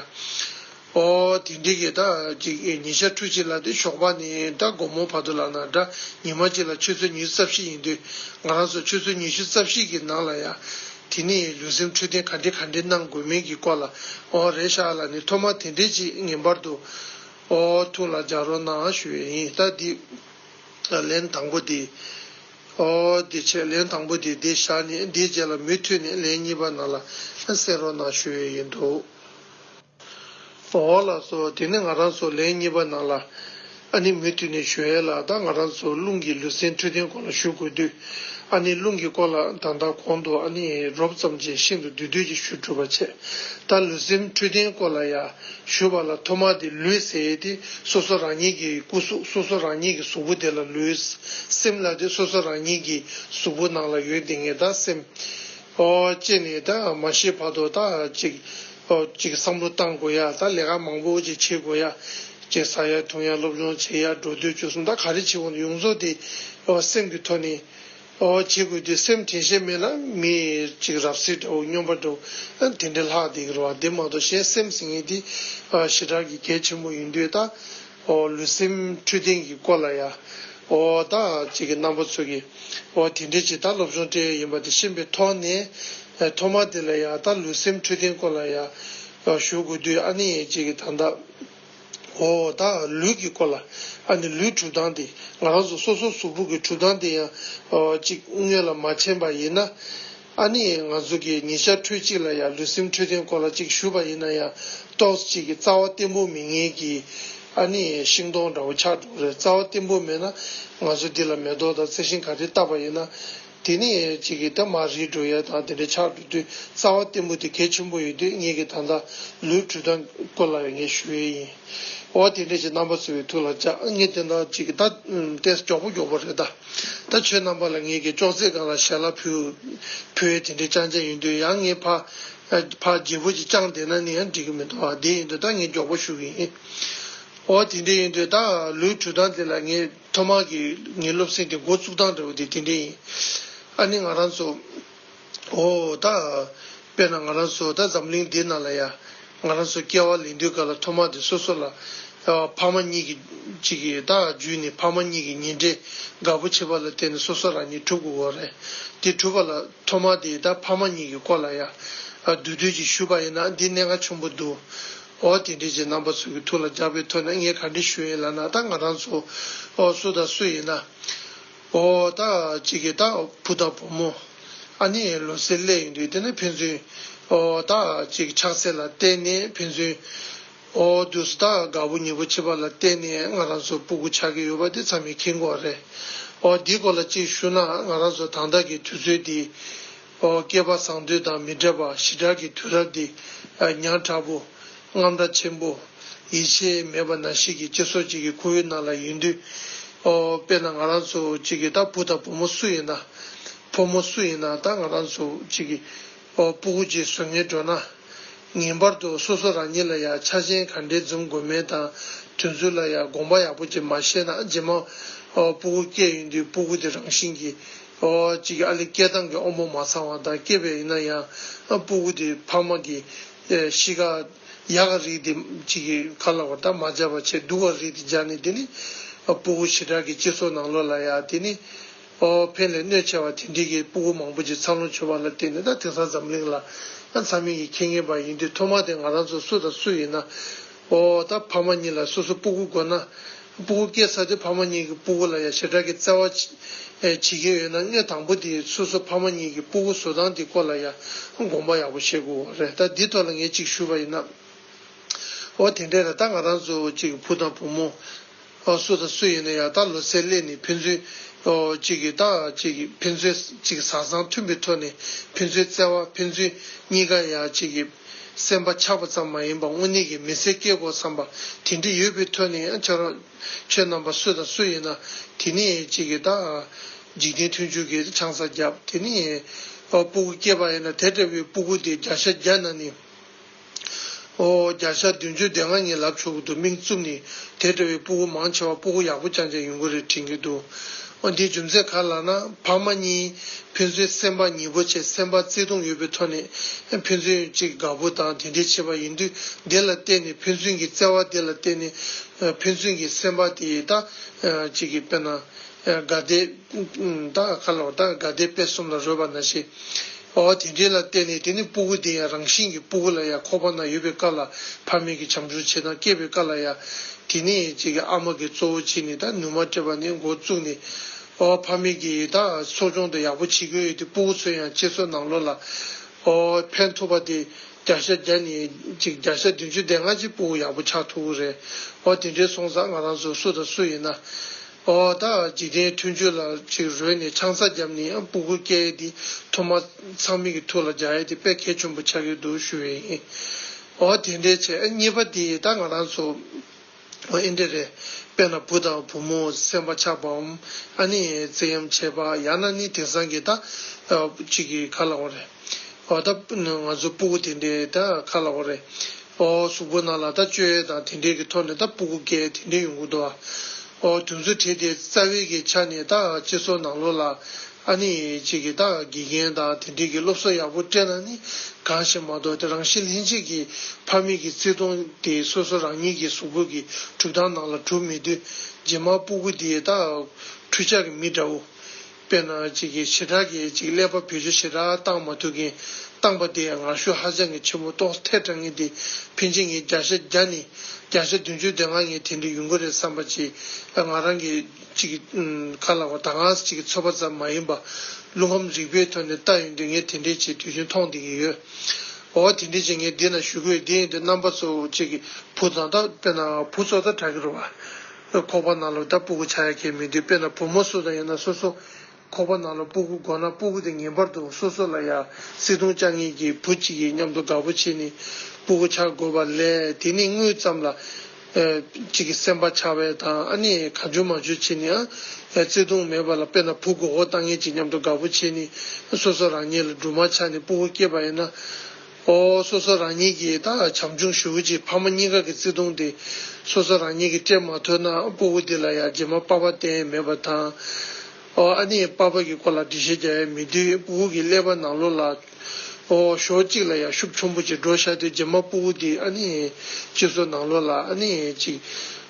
འོ་དེ་འདྲེ་གི་དག་ཅིག་ཉི་ཤར་འཕྲུལ་ཅིག་ལ་དེ་ཞོགས་པ་ནས་ད་དགོང་མོ་བར་དུ་ལག་ན་སྒྲ་ཉི་མ་གཅིག་ལ་ཆུ་ཚོད་ཉི་ཤུ་རྩ་བཞི་ཡིན་དུས་ང་རང་ཚོ་ཆུ་ཚོད་ཉི་ཤུ་རྩ་བཞི་གི་ནང་ལ་ཡ་དེ་ནས་ལུས་སེམས་འཕྲོད་བསྟེན་ག་འདྲས་ག་འདྲས་གནང་དགོས་མིན་གྱི་སྐོར་ལ་ཨོ་རེད་ཤག་ལ་ནི་ཐོག་མར་དེ་འདྲས་ཅིག་ངེས་པར་དུ་ཨོ་ཐུགས་ལ་འཇགས་རོགས་གནང་ཞུ་ཡས་ཡིན་ལྟ་འདི་ལན་དང་པོ་དེ་ཨོ་དེ་ཆད་ལན་དང་པོ་དེ་འདི་བཞག་ནས་འདིའི་རྗེས་ལ་མུས་མཐུད་ནས་ལན་གཉིས་པ་ནང་ལ་གསན་རོགས་གནང་ཞུ་ཡས་ཡིན་འདུག། འོག་ལ་སོ། དེ་ནས་ང་རང་ཚོ་ལན་གཉིས་པ་ནང་ལ། ཨ་ནེ་མུ་མཐུད་ནས་བཞུགས་ཡས་ལ་ད་ང་རང་ཚོ་རླུང་གི་ལུས་སེམས་འཕྲོད་བསྟེན་སྐོར་ལ་བཞུགས་དགོས་དུས། ཨ་ནེ་རླུང་གི་སྐོར་ལ་ད་ལྟ་གོང་དུ་ཨ་ནེ་རོབ་ཙམ་ཅན་ཤིན་ཏུ་འདུས་སྡོད་ཀྱི་ཞུ་གྲུབ་པ་ཆེ། ད་ལུས་སེམས་འཕྲོད་བསྟེན་སྐོར་ལ་ཡ་བཞུགས་པ་ལ་ཐོག་མར་དེ་ལུས་ཟེར་ཏེ་སོ་སོ་རང་ཉིད་ཀྱི་སྐུ་གཟུགས་སོ་སོ་རང་ཉིད་ཀྱི་གཟུགས་པོ་དེ་ལ་ལུས། སེམས་ལ་དེ་སོ་སོ་རང་ཉིད་ཀྱི་གཟུགས་པོ་ནང་ལ་ཡོད་དེ་ངས་ད་སེམས། ཨོ། ཅེས་ནས་ད་མ་ཤེས་བར་དུ་ད་ཅིག། ཅིག་བསམ་བློ་གཏང་དགོས་ཡ་ད་ལས་ཀ་མང་པོ་ཅིག་བྱེད་དགོས་ཡ། ཅེས་བསགས་ཡ་ཐུང་ཡ་སློབ་སྦྱོང་བྱེད་ཡ་འགྲོ་སྡོད་བྱོལ་སོང་ད་ག་རེ་བྱེད་འོང་དུ་ཡོང་ཚོ་དེ་སེམས་ཀྱི་ཐོག་ནས་བྱེད་དགོས་དུས་སེམས་དྲན་ཤེས་མེད་ན་མི་ཅིག་རབ་གསེར་འདྲ་བོ་སྙོམས་པ་འདྲ་བོ་དེ་འདྲས་ལྷག་བསྡད་ཀྱི་རེད་བ་དེ་མ་གཏོགས་གཞན་སེམས་ཟིན་ངེས་དེ་ཞེ་དྲག་གི་གལ་ཆེན་པོ་ཡིན་དུས་ད་ཨོ་ལུས་སེམས་འཁྲུལ་ལྡན་གྱི་སྐོར་ལ་ཡང། ཨོ་བདག་ཅིག་གིས་གནམ་ཕོ་ཚུགས་ཀྱི། ཨོ་དེ་འདྲའི་ཇི་ལྟར་སློབ་སྦྱོང་སྤྲད་ཡོད་ཡིན་པ་དེ་ཤེས་པའི་ཐོག་ནས། ཐོག་མར་དེ་ལ་ཡང་ད་ལུས་སེམས་འཁྲུལ་ལྡན་སྐོར་ལ་ཡང། ཞུ་དགོས་དུས་ཨ་ནེ་ཡས་ཅིག་གིས་ད་ལྟ། ཨོ་བདག་ལུས་ཀྱི་སྐོར་ལ། ཨ་ནེ་ལུས་གྲུབ་སྟངས་དེ། ང་རང་ཚོ་སོ་སོའི་གཟུགས་ཕུག་གི་གྲུབ་སྟངས་དེ་ཡང། ཅིག་དངོས་ལ་མ་མཁྱེན་པ་ཡིན་ན། ཨ་ནི་ང་ཚོ་གིས་ཉིན་ཞག་ཁྲོད་ཅིག་ལ་ཡང་ལུས་སེམས་འཕྲོད་བསྟེན་སྐོར་ལ་ཅིག་ཞུས་པ་ཡིན་ན་ཡང་ཏོག་གཅིག་གི་རྩ་བ་བརྟན་པོ་མི་ངེས་ཀི། ཨ་ནི་ཤིང་སྡོང་འདྲ་བོ་འཁྱགས་འགྲོ་རེད་རྩ་བ་བརྟན་པོ་མེད་ན་ང་ཚོ་འདི་ལ་མེ་ཏོག་དང་རྩི་ཤིང་ག་རེ་བཏབ་པ་ཡིན་ན། དེ་ནི་ཅིག་གིས་ད་མར་རིལ་འགྲོ་ཡས་དང་དེ་འདྲ་འཁྱགས་འགྲོ་དུས་རྩ་བ་བརྟན་པོ་དེ་གལ་ཆེན་པོ་ཡིན་དུས་ངེད་ཀྱིས་ད་ལྟ་ལུས་དྲུད་སྟངས་སྐོར་ལ་ངས་ཞུ་ཡས་ཡིན། ཨོ་དེ་འདྲས་ཀྱི་རྣམ་པ་བཟོ་བའི་ཐུགས་ལ་བཅག་ངས་དེ་འདྲ་ཅིག་ད་བལྟས་སུ་མགྱོགས་པོ་མགྱོགས་པོ་རེད་གདའ། ད་ཁྱོད་རྣམ་པ་ལ་ངས་ཀྱི་ཅོག་ཙེ་གང་ལ་ཞལ་ལ་ཕུལ། བུའི་དེ་འདྲས་ཅང་ཅང་ཡིན་དུས་ཡང་ངའི་ཕ། ཕ་རྒྱལ་བོ་ཅིག་ཅང་བསྡད་ན་ནི་ཡང་འགྲིག་གི་མི་འདུག་ཨ་དེ་ཡིན་དུས་ད་ངས་མགྱོགས་པོ་ཞུ་གི་ཡིན། ཨོ་དེ་འདྲས་ཡིན་དུས་ད་ལོའི་དྲུག་སྟངས་དེ་ལ་ངས་ཐོག་མར་གྱི་ངའི་སློབ་གསེང་དེ་འགོ་བཙུགས་སྟངས་འདྲ་བོ་དེ་དེ་འདྲས་ཡིན། ཨ་ནི་ང་རང་ཚོ། ཨོ་ད། དཔེར་ན་ང་རང་ཚོ་ད་འཛམ་གླིང་འདི་ན་ལ་ཡ། ང་རང་ཚོ་སྐྱེ་བ་ལེན་དུས་སྐབས་ལ་ཐོག་མ་དེ་སོ་སོ་ལ། ཕ་མ་གཉིས་ཀྱི། ཅིག་ད་བརྒྱུད་ནས་ཕ་མ་གཉིས་ཀྱི་ཉེ་འབྲེལ་དགའ་པོ་བྱེད་པ་ལ་བརྟེན་ནས་སོ་སོ་རང་ཉིད་གྲུབ་དགོས་དགོས་རེད། དེ་གྲུབ་པ་ལ་ཐོག་མ་དེ་ད་ཕ་མ་གཉིས་ཀྱི་སྐོར་ལ་ཡ། འདུས་སྡོད་ཅིག་ཞུས་པ་ཡིན་ན་འདི་གནད་འགག་ཆུང་པོ་འདུག། ཨོ་དེ་འདྲའི་ཆེད་རྣམ་པ་ཚོ་གི་ཐུགས་ལ་འཇགས་པའི་ཐོག་ནས་ངས་ག་འདྲི་ཞུ་ཡིན་ལ་ན་ད་ང་རང་ཚོ། སུ་དང་སུ་ཡིན་ན། ཨོ། ད་ཅི་གི་ད་བུ་ད་བུ་མོ། ཨ་ནི་ལོ་གསེར་གླས་ཡིན་དུས་དེ་ནི་ཕན་ཚུན། ཨོ། ད་ཅི་གི་ཆགས་སྲེད་ལ་བརྟེན་ནས་ཕན་ཚུན། ཨོ། དུས་སུ་ད་དགའ་བོ་ཉེ་བོ་བྱེད་པ་ལ་བརྟེན་ནས་ང་རང་ཚོ་སྤུ་གུ་ཆགས་ཀྱི་ཡོད་པ་དེ་ཚང་མའི་མཁྱེན་གོ་རེད། ཨོ། འདིའི་སྐོར་ལ་ཅིག་ཞུ་ན་ང་རང་ཚོ་དང་བདག་གི་དུས་ཚོད་འདི། བསྐལ་པ་བཟང་དུས་དང་མི་འབྲལ་བར་ཞི་དྲག་གི་དུས་རབས་འདི་ཉག་ཕྲ་པོ། རྔམ་སྒྲ་ཆེན་པོ། ཡིད་ཆེས་མེད་པ་ན་ཞིག་གིས་ཅི་སོགས་ཅིག་གི་ཁུ་བོའི་ནང་ལ་ཡོད་དུས། དཔེར་ན་ང་རང་ཚོ་ཅིག་གིས་ད་བུ་དང་བུ་མོ་སུ་ཡིན་ན། ཕོ་མོ་སུ་ཡིན་ན་ད་ང་རང་ཚོ་ཅིག་གིས་སྤུ་གུ་ཅིག་བཟོ་ངེས་འགྲོ་ན། ངེས་པར་དུ་སོ་སོ་རང་ཉིད་ལ་ཡང་ཆ་རྐྱེན་ག་འདྲའི་འཛོམས་དགོས་མིན་དང་དོན་ཚུལ་ལ་ཡང་དགོངས་པ་ཡག་པོ་ཅིག་མ་བཞེས་ན་རྗེས་མ་སྤུ་གུ་སྐྱེས་ཡོང་དུས་སྤུ་གུ་དེ་རང་བཞིན་གྱིས་གཅིག་ཨ་ལི་སྐྱེ་སྟངས་ཀྱི་དབང་པོ་མ་ཚང་བ་དང་སྐྱེས་པས་ཡིན་ན་ཡང་སྤུ་གུ་དེ་ཕ་མ་གི་གཤིས་ཀ་ཡག་ག་རིགས་དེ་གཅིག་གི་ཁ་ལ་བར་ཐག་མ་སྦྱར་བ་ཆེས་སྡུག་ག་རིགས་དེ་སྦྱར་ནས་དེ་ནི་སྤུ་གུ་ཞི་དྲག་གི་སྤྱི་ཚོགས་ནང་ལོག་ལ་ཡ་དེ་ནི་ཨོ་ཕན་ལས་གནོད་ཆེ་བ་དེ་འདྲིས་ཀྱི་སྤུ་གུ་མང་པོ་ཅིག་འཚར་ལོངས་བྱུང་བ་ལ་བརྟེན་ནས་ད་དེང་སང་འཛམ་གླིང་ལ་འཚར་མིན་གྱི་ཁེ་ངེས་པ་ཡིན་དུས་ཐོག་མ་དེ་ང་རང་ཚོ་སུ་དང་སུ་ཡིན་ན། ཨོ་ད་ཕ་མ་གཉིས་ལ་སོ་སོ་སྤུ་གུ་དགོས་ན། སྤུ་གུ་སྐྱེས་ས་དེ་ཕ་མ་གཉིས་ཀྱི་སྤུ་གུ་ལ་ཡང་ཞེ་དྲག་གི་བརྩེ་བ་བྱེད་ཀྱིན་ཡོད་ན་སྔས་དང་པོ་དེ་སོ་སོ་ཕ་མ་གཉིས་ཀྱི་སྤུ་གུ་བཟོ་སྟངས་དེ་སྐོར་ལ་ཡང་དགོངས་པ་ཡག་པོ་བཞེས་དགོས་བ་རེད་ད་འདི་ཐོག་ལ་ངས་ཅིག་ཞུ་བ་ཡིན་ན། ཨོ་དེ་འདྲས་ན་ད་ང་རང་ཚོ་ཅིག་བུ་དང་བུ་མོ། སུ་དང་སུ་ཡིན་ན་ཡང་ད་ལོ་ཚེ་ལས་ནི་ཕན་ཚུན་གཅིག་གིས་དང་གཅིག་གིས་ཕན་ཚུན་གཅིག་གི་བཟང་བཟང་མཐུན་པའི་ཐོག་ནས་ཕན་ཚུན་བརྩེ་བ་ཕན་ཚུན་གཉིས་ཀ་ཡང་གཅིག་གི་སེམས་པ་ཆགས་པ་ཙམ་མ་ཡིན་པར་དངོས་གནས་ཀྱི་མི་ཚེ་སྐྱེལ་དགོས་བསམ་པ་དེ་འདྲ་ཡོད་པའི་ཐོག་ནས་ཡང་བྱ་རོགས། ཁྱོད་རྣམ་པ་སུ་དང་སུ་ཡིན་ན་དེ་ནི་གཅིག་གིས་དང། འཇིག་རྟེན་མཐུན་འཇུག་གི་ཆང་ས་བརྒྱབ་དེ་ནི། སྤུ་གུ་སྐྱེས་པ་ཡིན་ན་དེ་འདྲ་བའི་སྤུ་གུ་དེ་བརྒྱ་ཤ་བརྒྱ་ན་ནི། ཨོ་བརྒྱ་ཆ་བདུན་ཅུ་སྡེ་ལྔ་ཉིད་ལབ་ཆོག་གི་འདུག་དམིགས་བཙུབ་ནི་དེ་འདྲ་བའི་སྤུ་གུ་མང་ཆེ་བ་སྤུ་གུ་ཡག་པོ་རྐྱང་རྐྱང་ཡོང་གི་རེད་དྲན་གྱི་འདུག་ཨོ་འདིའི་རྒྱུ་མཚན་ག་ལ་ན་ཕ་མ་གཉིས་ཕན་ཚུན་སེམས་པ་ཉེ་པོ་བྱེད་སེམས་པ་བརྩེ་དུང་ཡོད་པའི་ཐོག་ནས་ཕན་ཚུན་གཅིག་དགའ་པོ་དང་དེ་འདྲས་བྱེད་པ་ཡིན་དུས་དེ་ལ་བརྟེན་ནས་ཕན་ཚུན་གྱི་བརྩེ་བ་དེ་ལ་བརྟེན་ནས་ཕན་ཚུན་གྱི་སེམས་པ་དེ་དག་ཅིག་དཔེར་ན་དགའ་དད། བདག་གི་མཁའ་ལ་བདག་གི་དགའ་བདེའི་དཔེ་གསུམ་ལ་རོལ་བར་ན་ཤེས། འོ་དེ་འདྲའི་ལ་བརྟེན་ནས་དེ་ནི་སྤུ་གུ་དེ་ཡང་རང་བཞིན་གྱི་སྤུ་གུ་ལ་ཡང་ཁོ་པ་ན་ཡོད་པའི་བཀའ་ལ་ཕ་མེས་ཀྱི་བྱམས་སྦྱོར་བྱེད་དང་སྐྱེས་པའི་བཀའ་ལ་ཡང། དེ་ནི་ཨ་མ་གི་གཙོ་བོ་བྱས་ནས་ད་ནུས་མ་སྤྲད་པ་ནས་འགོ་བཙུགས་ནས། འོ་ཕ་མེས་ཀྱིས་ད་གསོ་སྦྱོང་དང་ཡག་པོ་བྱེད་དགོས་ཡོད་དེ་སྤུ་གུ་ཚོས་ཡང་ཁྱེད་ཚོ་ནང་ལོགས་ལ། འོ་ཕན་ཐོགས་པ་དེ་བརྒྱ་ཤ་བརྒྱ་ནས་བརྒྱ་ཤ་བདུན་ཅུ་བསྡད་སྔ་ཕྱི་སྤུ་གུ་ཡག་པོ་ཆགས་ཐུབ་ཀྱི་རེད། འོ་དེ་འདྲའི་སོང་ཙང་ང་རང་ཚོ་སུ་དང་སུ་ཡིན་ན། ཨོ་ད་འཇིག་རྟེན་མཐུན་ཆོས་ལ་ཅིག་རོལ་ནས་ཆང་ས་བརྒྱབ་ནས་སྤུ་གུ་སྐྱེ་ཡས་དེ་ཐོ་མ་ཚང་མིག་གི་ཐུགས་ལ་འཇགས་ཡས་དེ་དཔེ་གལ་ཆུན་པོ་ཆགས་ཀྱི་འདུག་ཞུ་བས་ཡིན་ཨོ་དེ་འདྲའི་ཆེ་གཉིས་པ་དེ་ད་ང་རང་ཚོ་ཨོ་ཨེ་འདྲ་རེད་དཔེ་ན་བུ་དང་བུ་མོ་སེམས་པ་ཆགས་པའམ་ཨ་ནི་ཙེ་ཡམ་བྱས་པ་ཡང་ན་ནི་དེང་སང་གི་ད་ཅིག་གི་ག་ལ་འོང་རེད། བ་ད། ང་ཚོའི་སྤུ་གུ་དེ་འདྲའི་ད་ཁ་ལ་བོ་རེད། ཨོ། གཟུགས་པོ་ནང་ལ་ད་སྤྱོད་ཡས་དང་དེ་འདྲའི་གི་ཐོག་ནས་ད་སྤུ་གུ་འགས་དེ་འདྲའི་ཡོང་གི་འདུག་ཨ། ཨོ། དུས་ཚོད་དེ་དེ་རྩ་བའི་གི་ཆ་ནས་ད་སྤྱི་ཚོགས་ནང་ལོགས་ལ། ཨ་ནི་ཅིག་གི་ད་དགེ་རྒན་དང་དེ་འདྲའི་གི་སློབ་གསོ་ཡག་པོ་སྤྲད་ན་ནི་གང་ཞིག་མ་གཏོགས་དེ་རང་བཞིན་ལྷན་སྐྱེས་ཀྱི་ཕ་མེས་ཀྱི་བརྩེ་དུང་དེ་སོ་སོ་རང་ཉིད་ཀྱི་གཟུགས་པོ་གི་གྲུབ་སྟངས་ནང་ལ་གྲུབ་མེད་དུས་རྗེས་མ་སྤུ་གུ་དེ་ད་ཁྲུས་ཆག་གི་མི་འདྲ་བོ། དཔེར་ན་གཅིག་གིས་བྱེ་བྲག་གིས་གཅིག་ཀླད་པ་བེད་སྤྱོད་བྱེ་བྲག་བཏང་མ་ཐུབ་མཁན་བཏང་པ་དེའི་ངར་ཤུགས་ཧ་ཅང་གི་ཆེན་པོ་རྟོགས་ཐལ་དྲགས་ངེས་ཏེ་ཕིན་ཆེ་ངེས་བརྒྱ་ཆ་བརྒྱ་ནི་བརྒྱ་ཆ་བདུན་ཅུ་དེ་སྔ་ངས་དེ་འདྲའི་ཡུན་གོ་རེད་བསམ་པ་ཅི་ང་རང་གི་གཅིག་གི་ཁ་ལག་པ་ད་སྔ་གཅིག་གི་ཚོད་པ་ཙམ་མ་ཡིན་པ་རླུང་ཁམས་རིག་པའི་ཐོག་ནས་ལྟ་ཡོང་དུས་ངས་དེ་འདྲའི་ཆེ་དུས་ཆེན་མཐོང་བདེ་གི་ཡོད། འོ་དེ་འདྲའི་ཆེ་ངས་འདི་ན་ཞུ་དགོས་དེ་ཡིན་དུས་རྣམ་པ་ཚོ་གཅིག་གི་བུ་བཙོ་ད་དཔེར་ན་བུ་བཙོ་ད་དྲགས་གི་རུ་བ། ཁོག་པ་ནང་ལོགས་ད་སྤུ་གུ་ཆག་ཡ་ཁྱེད་མི་འདུག་དཔེ་ན་བུ་མོ་སུ་དང་ཡོད་ན་སོ་སོ་ཁོག་པ་ནང་ལོགས་སྤུ་གུ་དགོ་ན་སྤུ་གུ་དེ་ངེས་པར་དུ་སོ་སོ་ལ་ཡ་སྲིད་དུང་ཅག་གཉིས་ཀྱི་བུ་གཅིག་ཡིན་སྙམ་དུ་དགའ་པོ་བྱེད་ནི་སྤུ་གུ་ཆག་དགོས་པ་ལས་དེ་ནི་དངུལ་ཙམ་ལ་གཅིག་གི་སེམས་པ་ཆག་བས་དང་ཨ་ནི་ག་འཇོན་མ་འཇོན་བྱེད་ནི་ཨ་བརྩེ་དུང་མེད་པ་ལ་དཔེ་ན་བུ་དགོ་འོ་ལྟ་ངེས་ཅིག་སྙམ་དུ་དགའ་པོ་བྱེད་ནི་སོ་སོ་རང་ཉིད་ལ་སྦྲུམ་མ་ཆག་ནི་སྤུ་གུ་སྐྱེས་པ་ཡིན་ན། ཨོ་སོ་སོ་རང་ཉིད་ཀྱི་ད་བྱམས་ཆུང་ཞུ་བོ་ཅིག་ཕ་མ་གཉིས་ཀ་གི་བརྩེ་དུང་དེ་སོ་སོ་རང་ཉིད་ཀྱི་སྤྲད་མ་ཐུབ་ན་སྤུ་བོ་འདི་ལ་ཡང་རྗེས་མ་པགས་པ་གཏན་མེད་པ་དང། ཨོ་ཨ་ནི་པགས་པ་གི་སྐོར་ལ་འདྲི་བཤད་རྒྱག་ཡ་མི་དུས་སྤུ་བོ་གི་ཀླད་པ་ནང་ལོགས་ལ། ཨོ་ཞོ་གཅིག་ལ་ཡང་ཤུབས་ཆུང་པོ་ཅིག་འགྲོ་ཤར་དུས་རྗེས་མ་སྤུ་བོ་འདི་ཨ་ནི་གཅིག་སོ་ནང་ལོགས་ལ་ཨ་ནི་གཅིག།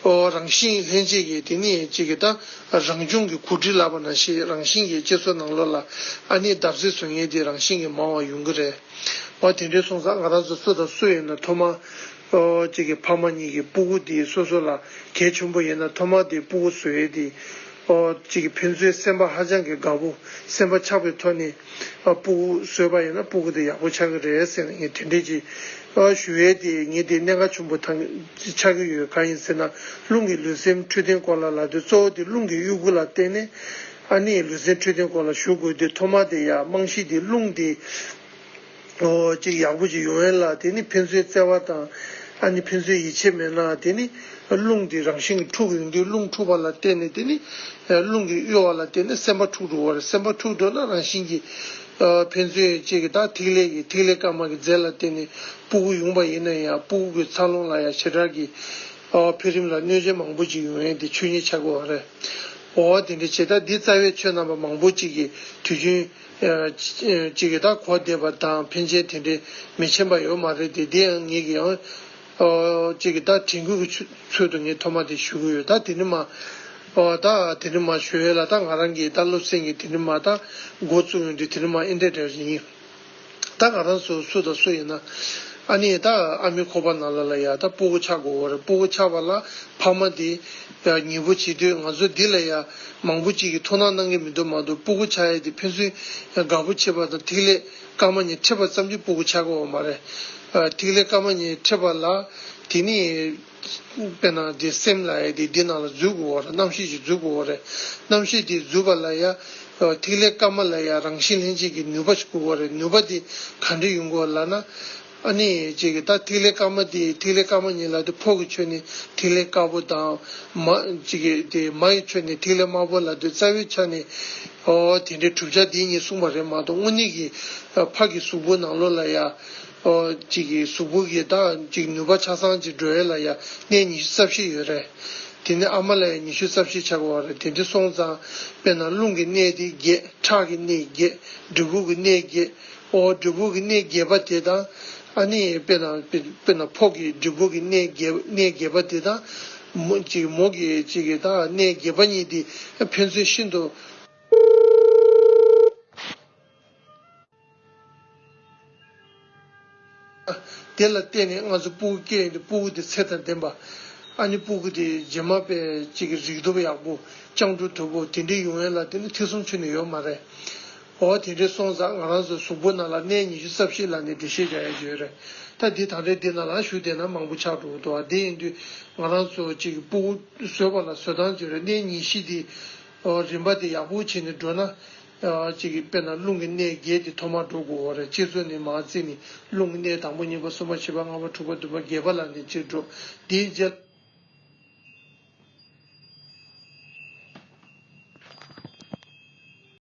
ཨོ་རང་བཞིན་ལྷན་སྐྱེས་ཀྱི་དེ་ནི་གཅིག་གི་ད་རང་བྱུང་གི་གུར་དྲི་ལག་པ་ན་ཞིག་རང་བཞིན་གྱི་གཅིག་སོ་ནང་ལོགས་ལ་ཨ་ནི་འདབ་གསེར་ཟོལ་ངན་འདི་རང་བཞིན་གྱི་མང་བ་ཡོང་གི་རེད། པ་དེ་འདྲའི་སོང་ཙང་ང་རང་ཚོ་སུ་དང་སུ་ཡིན་ན་ཐོག་མ། གཅིག་གི་ཕ་མ་གཉིས་ཀྱི་སྤུ་གུ་དེ་སོ་སོ་ལ་གལ་ཆེན་པོ་ཡིན་ན་ཐོག་མ་དེ་སྤུ་གུ་ཟོས་དེ། གཅིག་གི་ཕན་ཚུན་སེམས་པ་ཧ་ཅང་གི་དགའ་པོ་སེམས་པ་ཆགས་པའི་ཐོག་ནས། སྤུ་གུ་ཟོས་པ་ཡིན་ན་སྤུ་གུ་དེ་ཡག་པོ་ཆགས་ཀྱི་རེད་ཟེར་ནས་ངས་དེ་འདྲས་ཀྱི། ཞུ་བས་དེ་ངས་དེ་གནད་འགག་ཆུན་པོ་དང་ཆགས་ཀྱི་ཡོད་གང་ཡིན་ཟེར་ན་རླུང་གི་ལུས་སེམས་འཕྲོད་བསྟེན་སྐོར་ལ་ལ་དེ་གཙོ་བོ་དེ་རླུང་གི་དབྱུ་གུ་ལ་བརྟེན་ནས། ཨ་ནེའི་ལུས་རྩལ་འཕྲོད་བསྟེན་སྐོར་ལ་ཞུགས་དགོས་དུས་ཐོག་མར་དེ་ཡར་རྨང་གཞི་དེ་བསླུངས་ཏེ། འོ་ཅིག་ཡག་པོ་ཅིག་ཡོང་ཡས་ལ་དེ་ནི་ཕན་ཚུན་བརྩེ་བ་དང། ཨ་ནི་ཕན་ཚུན་ཡིད་ཆེས་མེད་ན་དེ་ནི། རླུང་དེ་རང་བཞིན་གྱིས་འཁྲུག་ཡོང་དུས་རླུང་འཁྲུག་པ་ལ་བརྟེན་ནས་དེ་ནི། རླུང་གིས་གཡོ་བ་ལ་བརྟེན་ནས་སེམས་པ་འཁྲུག་འགྲོ་བར་སེམས་པ་འཁྲུག་འགྲོ་ན་རང་བཞིན་གྱིས། ཕན་ཚུན་ཡིད་ཆེས་ཀྱི་དང་ཐིག་ལེ་ཡི་ཐིག་ལེ་སྐར་མ་གྱི་རྫས་ལ་བརྟེན་ནས་སྤུ་གུ་ཡུང་བ་ཡིན་ན་ཡང་སྤུ་གུ་གྱི་འཚར་ལོངས་ལ་ཡང་བྱེ་བྲག་གི། ཨ་བ་འཕེལ་རིམ་ལ་གནོད་བྱེད་མང་པོ་ཅིག་ཡོང་ཡས་དེ་ཆོས་ཉིད་ཆགས་པའི་བར་རེད། འོ་བ་དེ་འདྲའི་བྱེད་སྟངས་འདི་རྩ་བའི་ཆོས་རྣམ་པ་མང་པོ་ཅིག་གི་དུས་རྒྱུན། ཅིག་གི་དང་གོ་བདེ་བ་དང་ཕན་ཆེན་དེ་འདྲའི་མི་ཆེན་པ་ཡོད་མ་རེད་དེ་དེ་ཡང་ངེད་ཀྱིའང། ཅིག་གི་དང་དྲན་སྐུལ་གི་ཚུལ་དུ་ངས་ཐོག་མ་དེ་ཞུ་གི་ཡོད་ད་དེ་འདྲི་མ། ད་དེ་འདྲི་མ་ཞུ་ཡས་ལ་ད་ང་རང་གིས་ད་སློབ་ཚན་གྱི་དེ་འདྲི་མ་དང་འགོ་བཙུགས་ཡོང་དུས་དེ་འདྲི་མ་ཨེ་འདྲ་འདྲ་ཡིན། ད་ང་རང་ཚོ་སུ་དང་སུ་ཡིན་ན། ཨ་ནེ་ད་ཨ་མའི་ཁོག་པ་ན་ལ་ལ་ཡ་ད་སྤོ་བོ་ཆགས་དགོས་བོར་སྤོ་བོ་ཆགས་པ་ལ་ཕ་མ་དེ། ཉེ་བོ་བྱེད་དུས་ང་ཚོ་འདི་ལ་ཡ། མང་བོ་ཅིག་གིས་ཐུགས་སྣང་གནང་གི་མི་འདུག་མ་འདུག་སྤོ་བོ་ཆགས་ཡ་དེ་ཕན་ཚུན། དགའ་བོ་བྱེད་པ་དང་ཐིག་ལེ་སྐར་མ་གཉིས་འཕྲད་པ་ཙམ་གྱིས་སྤོ་བོ་ཆགས་དགོས་བ་མ་རེད། ཐིག་ལེ་སྐར་མ་གཉིས་འཕྲད་པ་ལ་དེ་ནི། དཔེར་ན་འདི་སེམས་ལ་ཡ་དེ་འདི་ནང་ལ་རྫུས་དགུ་བོ་རེད་རྣམ་ཤེས་ཀྱི་རྫུས་དགུ་བོ་རེད་རྣམ་ཤེས་དེའི་རྫུས་པ་ལ་ཡ། ཐིག་ལེ་སྐར་མ་ལ་ཡ་རང་བཞིན་ལྷན་སྐྱེས་ཀྱི་ནུས་པ་དགུ་བོ་རེད་ནུས་པ་དེ་ག་འདྲི་ཡོང་གི་ལགས་ན། ཨ་ནི་ཅིག་གིས་ད་ཐིག་ལེ་སྐར་མ་དེ་ཐིག་ལེ་སྐར་མ་ཉིད་ལ་དེ་ཕོག་གི་ཆོས་ནི་ཐིག་ལེ་དཀར་པོ་དང། མ། ཅིག་གིས་དེ་མ་ཡི་ཆོས་ནི་ཐིག་ལེ་དམར་པོ་ལ་དེ་རྩ་བའི་ཆ་ནི། ཨོ་དེ་འདྲའི་གྲུབ་ཆ་དེ་གཉིས་གསུངས་པ་རེད་མ་གཏོགས་དངོས་གནས་ཀྱི། ཕག་གི་གཟུགས་པོ་ནང་ལོགས་ལ་ཡ། གཅིག་གིས་གཟུགས་པོ་གི་དག་ཅིག་ནུས་པ་ཆ་ཚང་གཅིག་འགྲོ་ཡས་ལ་ཡ་གནས་ཉི་ཤུ་རྩ་བཞི་ཡོད་རེད། དེ་ནི་ཨ་མ་ལ་ཡ་ཉི་ཤུ་རྩ་བཞི་ཆགས་པ་རེད་དེ་འདི་སོང་ཙང་དཔེར་ན་རླུང་གི་གནས་དེ་བརྒྱད་ཁྲག་གི་གནས་བརྒྱད་འབྲས་བུ་གི་གནས་བརྒྱད་ཨོ་འབྲས་བུ་གི་གནས་བརྒྱད་པ་དེ་དང། ཨ་ནི་དཔེར་ན་དཔེར་ན་ཕོག་གི་འབྲས་བུ་གི་གནས་བརྒྱད་གནས་བརྒྱད་པ་དེ་དང། མོ་གཅིག་མོ་གི་གཅིག་གི་དག་གནས་བརྒྱད་པ་གཉིས་དེ་ཕན་ཚུན་ཤིན་ཏུ། དེ་ལ་བརྟེན་ནས་སྔ་སོར་སྤུ་གུ་སྐྱེས་ཡོང་སྟེ་སྤུ་གུ་དེ་ཚད་དང་ལྡན་པ། ཨ་ནི་སྤུ་གུ་དེ་རྗེས་མ་པའི་གཅིག་གི་རིགས་སྟོབས་ཡག་པོ། སྤྱང་གྲུང་དོད་པོ་དེ་འདྲའི་ཡོང་ཡ་ལ་དེ་ནི་ཐེག་གསུམ་ཆུད་ནས་ཡོད་མ་རེད། འོ་དེ་འདྲའི་སོང་ཙང་ང་རང་ཚོའི་གཟུགས་པོ་ན་ལ་གནས་ཉི་ཤུ་རྩ་བཞི་ལ་ནི་འདྲེ་ཤེས་བྱ་ཡ་ཡོད་རེད། ད་འདི་ད་འདྲའི་འདི་ན་ལ་ཞུགས་བསྡད་ན་མང་པོ་ཆགས་འགྲོ་འདུག་ཨ་དེ་ཡིན་དུས་ང་རང་ཚོ་གཅིག་གི་སྤུ་གུ་བཟོས་པ་ལ་བཟོས་སྟངས་བརྗེ་རེད་གནས་ཉི་ཤི་དེའི་རིམ་པ་དེ་ཡག་པོ་བྱས་ནས་འགྲོ་ན། གཅིག་གིས་དཔེར་ན་རླུང་གི་གནས་བརྒྱད་དེ་ཐོག་མར་འགྲོ་དགོས་བར་སྤྱིར་ཚོགས་ནི་མ་བརྩིས་ནས་རླུང་གི་གནས་དང་པོ་གཉིས་པ་གསུམ་པ་བཞི་པ་ལྔ་པ་དྲུག་པ་བདུན་པ་བརྒྱད་པ་ལ་ནི་སྤྱིར་འགྲོ། དེའི་རྗེས།